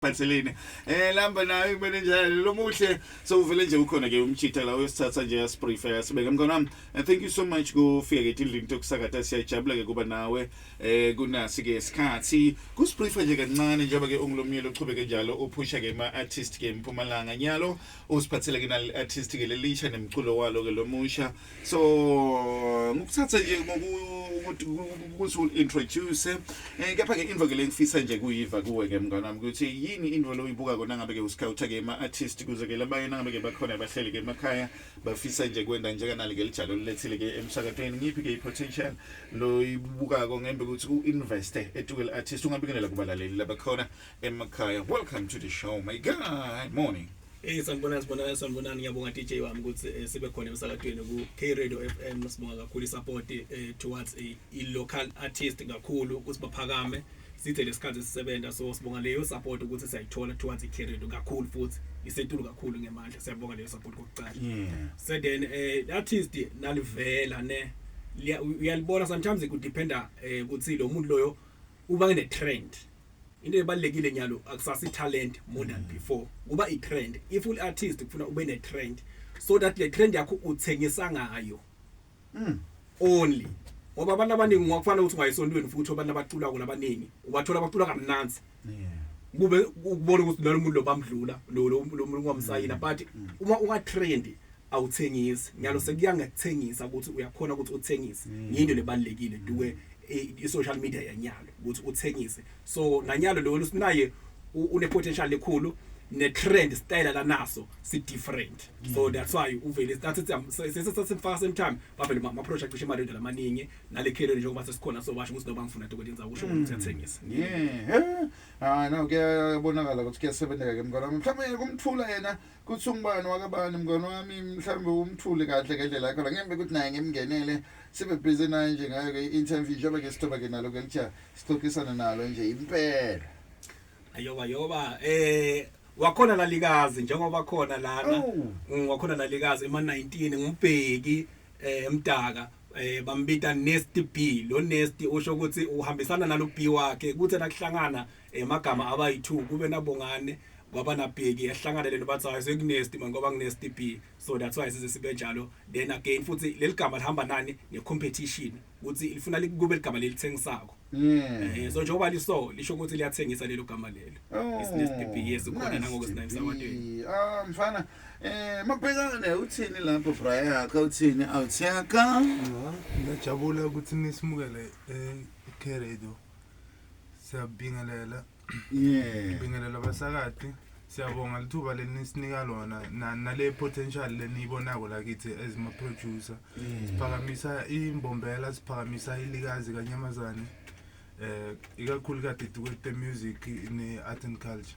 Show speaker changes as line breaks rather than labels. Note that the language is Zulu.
Phatheleni. Eh lamba nayo kumele njalo lo muhle so uvele nje ukhona ke umchitha la uyosithatha nje yasiprefer sibeke mkhona wami. And thank you so much kufika ke tindlini tokusakata siyajabula ke kuba nawe eh kunasi ke isikhathi. Kusiprefer nje kancane njengoba ke ungilomyeni uqhubeke njalo uphusha ke ma artist ke eMpumalanga nyalo usiphathele ke nal artist ke lelisha nemculo walo ke lomusha. so ngikuthathe nje ngokuthi ukuthi introduce eh kepha ke into ke lengifisa nje kuyiva kuwe ke mngane wami ukuthi yini into lo uyibuka kona ngabe ke usikhautha ke ama artist kuze ke labayena ngabe ke bakhona abahleli ke emakhaya bafisa nje kwenda nje kanali ke lijalo lilethile ke emsakatweni ngiphi ke ipotential lo ibuka ko ngembe ukuthi u invest etukel artist ungabingelela kubalaleli labakhona emakhaya welcome to the show my guy morning Hey sanibonani sibonani
sanibonani ngiyabonga DJ wami ukuthi eh, sibe khona emsakadweni ku K Radio FM sibonga kakhulu support eh, towards i, i local artist kakhulu ukuthi baphakame sithe lesikhathi sisebenza so sibonga leyo support ukuthi siyayithola towards i K Radio kakhulu futhi isetulu kakhulu ngemandla siyabonga leyo support kokuqala yeah. so then eh, artist nalivela ne uyalibona sometimes it could dependa eh, ukuthi lo muntu loyo uba ne trend into ebalekile nyalo akusasa italent more than mm. before kuba itrend if ul artist kufuna ube ne trend so that le trend yakho uthengisa ngayo mm. only ngoba abantu abaningi ngokufana ukuthi ungayisontweni futhi abantu abacula kula abaningi ubathola abacula kamnandi yeah kube ukubona ukuthi nalo muntu lo bamdlula lo lo muntu ngomsayina mm. but uma unga trend awuthengisi nyalo mm. sekuya ngekuthengisa ukuthi uyakhona ukuthi uthengise mm. yinto lebalekile duke i-social media yanyalo ukuthi uthengise so nanyalo lo lusinaye une potential lekhulu ne trend style lanaso si different so mm. that's why uvele started sesesifaka same time bavele ama project cishe imali lamaningi nale career njengoba sesikhona so basho ukuthi noba ngifuna dokwe lenza kusho ukuthi mm. siyathengisa yeah
ah no kuyabonakala ukuthi kuyasebenza ke mngane mhlawumbe kumthula yena kuthi ungubani wakabani mngane wami mhlawumbe umthule kahle ngendlela yakho la ngembe ukuthi naye ngimngenele sibe busy naye nje ngayo ke i-interview njengoba ke sithoba ke nalo ke lithiya sixoxisane nalo nje impela ayoba
yoba eh wakhona lalikazi njengoba khona lana Oh. Mm, wakhona lalikazi ema 19 ngumbheki eh emdaka eh bambita Nasty B lo Nasty usho ukuthi uhambisana nalo B wakhe kuthe nakuhlangana emagama eh, abayi-two kube nabongane kwaba nabheki ehlanganele nobathi hayi sekunesti mani kwaba kunesti b so that's why size sibe njalo then again futhi leli gama lihamba nani ne-competition ukuthi lifuna kube ligama lelithengisako eh so njengoba liso lisho ukuthi liyathengisa lelo gama lelo oh, isinesti b yes khona nangokusinayimsawadeni ah
mfana eh makubhekane uthini lapho bra yakhe uthini awuthiyaka ngiyajabula
ukuthi nisimukele eh, i-radio siyabingelela yeah bingelela abasakati siyabonga lithuba lenisinika lona na- nale potential leniyibonako la kithi as ma producer siphakamisa imbombela siphakamisa ilikazi kanyamazane eh ikakhulu kadidi kwete music ne art and culture